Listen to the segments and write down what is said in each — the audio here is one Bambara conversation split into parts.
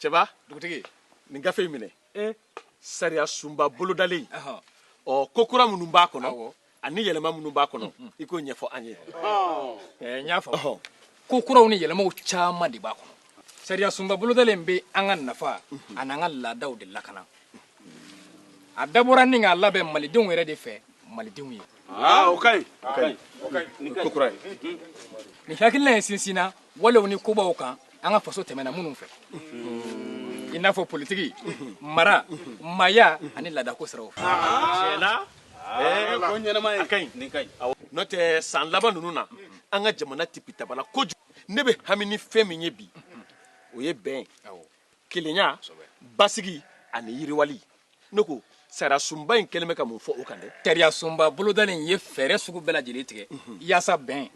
cɛba dugutigi nin gafe in minɛ sariya sunba bolodalen ɔ ko kura minnu b'a kɔnɔ ani yɛlɛma minnu b'a kɔnɔ i k'o ɲɛfɔ an ye n y'a faamu ko kuraw ni yɛlɛmaw caman de b'a kɔnɔ sariya sunba bolodalen bɛ an ka nafa ani an ka laadaw de lakana a dabɔra ni k'a labɛn malidenw yɛrɛ de fɛ malidenw ye aa o ka ɲi o ka ɲi o ka ɲi ko kura ye nin hakilina ye sinsinna walew ni kobaw kan an ka faso tɛmɛna minnu fɛ i n'a fɔ politiki mara maaya ani laadako siraw fɛ ko ɲɛnama ye a ka ɲi nin ka ɲi n'o tɛ san laban ninnu na an ka jamana tipitabala kojugu ne bɛ hami ni fɛn min ye bi o ye bɛn ye kelenya basigi ani yiriwali ne ko sariyasunba in kɛlen bɛ ka mun fɔ o kan dɛ sariyasunba bolodalen in ye fɛɛrɛ sugu bɛɛ lajɛlen tigɛ yaasa bɛn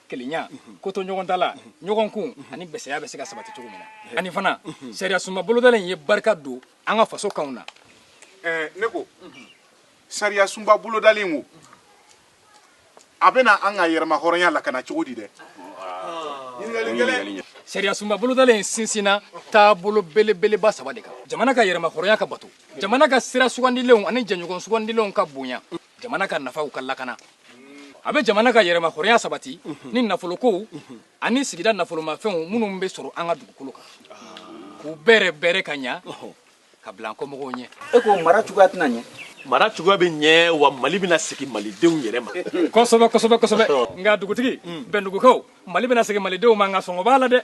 kelenya kotoɲɔgɔntala ɲɔgɔnkun ani bɛsɛya bɛ se ka sabati cogo min na ani fana sariyasunba bolodalen in ye barika don an ka faso kanw na ne ko sariyasunba bolodalen wo a bɛna an ka yɛrɛmahɔrɔnya lakana cogo di dɛ sariyasunba bolodalen in sinsinna taabolo belebeleba saba de kan jamana ka yɛrɛmahɔrɔnya ka bato jamana ka sira sugandilenw ani jɛɲɔgɔn sugandilenw ka bonya jamana ka nafaw ka lakana a bɛ jamana ka yɛrɛmahɔrɔnya sabati ni nafolokow ani sigida nafolomafɛnw minnu bɛ sɔrɔ an ka dugukolo kan k'u bɛrɛ bɛrɛ ka ɲa ka bila an kɔmɔgɔw ɲɛ e ko mara cogoya tɛna ɲɛ mara cogoya bɛ ɲɛ wa mali bɛna segin malidenw yɛrɛ ma kosɛbɛ kosɛbɛ kosɛbɛ nka dugutigi bɛndugukaw mali bɛna segin malidenw ma nka sɔngɔ b'a la dɛ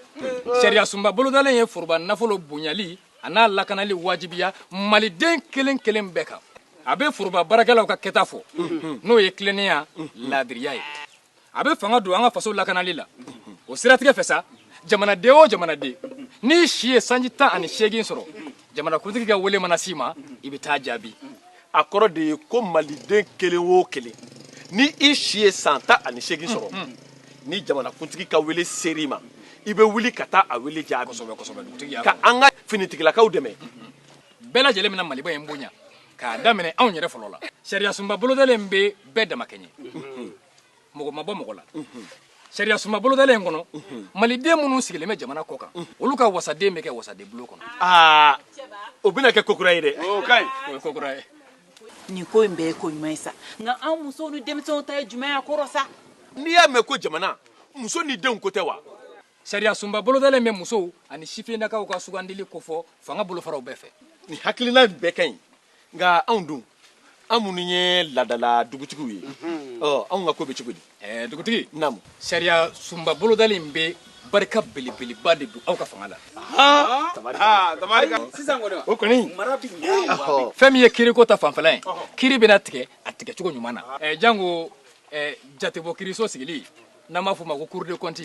sariya sunba bolodalen ye foroba nafolo bonyali a n'a lakanali wajibiya maliden kelen kelen bɛɛ kan a bɛ foroba baarakɛlaw ka kɛta fɔ n'o ye tilennenya laadiriya ye a bɛ fanga don an ka faso lakanali la o siratigɛ fɛ sa jamanaden o jamanaden n'i si ye sanji tan ani seegin sɔrɔ jamanakuntigi ka wele mana s'i ma i bɛ taa jaabi a kɔrɔ de ye ko maliden kelen o kelen ni i si ye san tan ani seegin sɔrɔ ni jamanakuntigi ka wele sera i ma i bɛ wuli ka taa a wele jaabi ka an ka finitigilakaw dɛmɛ bɛɛ lajɛlen bɛna maliba in bonya k'a daminɛ anw yɛrɛ fɔlɔ la sariyasunba bolodalen bɛ bɛɛ damakɛɲɛ mɔgɔ ma bɔ mɔgɔ la sariyasunba bolodalen in kɔnɔ maliden minnu sigilen bɛ jamana kɔkan olu ka wasaden bɛ kɛ wasaden bulon kɔnɔ aa o bɛna kɛ ko kura ye dɛ o ka ɲi o ye ko kura ye nin ko in bɛɛ ye ko ɲuman ye sa nka anw musow ni denmisɛnw ta ye jumɛn y'a kɔrɔ sa n'i y'a mɛn ko jamana muso ni denw ko tɛ wa sariyasunba bolodalen bɛ musow ani sifinnakaw ka sugandili kofɔ fanga bolofaraw bɛɛ fɛ nin hakilina in bɛɛ ka ɲi nka anw dun an minnu ye laadala dugutigiw ye ɔ anw ka ko bɛ cogo di ɛɛ dugutigi naamu sariyasunba bolodalen in bɛ barika belebeleba de don aw ka fanga la sisan kɔni o kɔni mara bɛ ɲɛ fɛn min ye kiriko ta fanfɛla ye kiri bɛna tigɛ a tigɛcogo ɲuman na ɛɛ janko ɛɛ jatebɔ kiriso sigili n'an b'a f'o ma ko cour de compte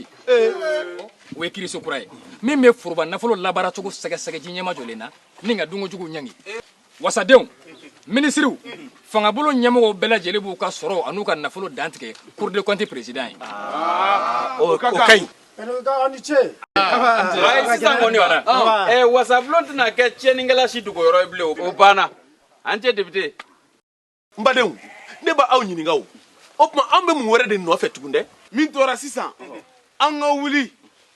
o ye kiriso kura ye min bɛ foroba nafolo labaaracogo sɛgɛsɛgɛ ji ɲɛmajɔlen na ni ka dunkojuguw ɲangi wasadenw minisiriw fangabolo ɲɛmɔgɔw bɛɛ lajɛlen b'u ka sɔrɔw an'u ka nafolo dantigɛ cour de compte peresidan ye o ka ɲi sisan kɔni wasabulon tɛna kɛ tiɲɛnikɛla si dogoyɔrɔ ye bilen o banna ancien depite n badenw ne b'aw ɲininka o o tuma an bɛ mun wɛrɛ de nɔfɛ tugun dɛ min tora sisan an ka wuli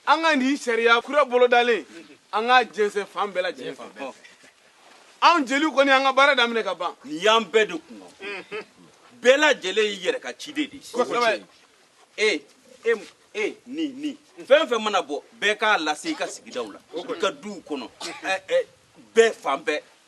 an ka nin sariya kura bolodalen an k'a jɛnsɛn fan bɛɛ lajɛlen fɛ anw jeliw kɔni an ka baara daminɛ ka ban nin y'an bɛɛ de kun bɛɛ lajɛlen y'i yɛrɛ ka ciden de ye e e e ni ni fɛn fɛn mana bɔ bɛɛ k'a lase i ka sigidaw la i ka duw kɔnɔ bɛɛ fan bɛɛ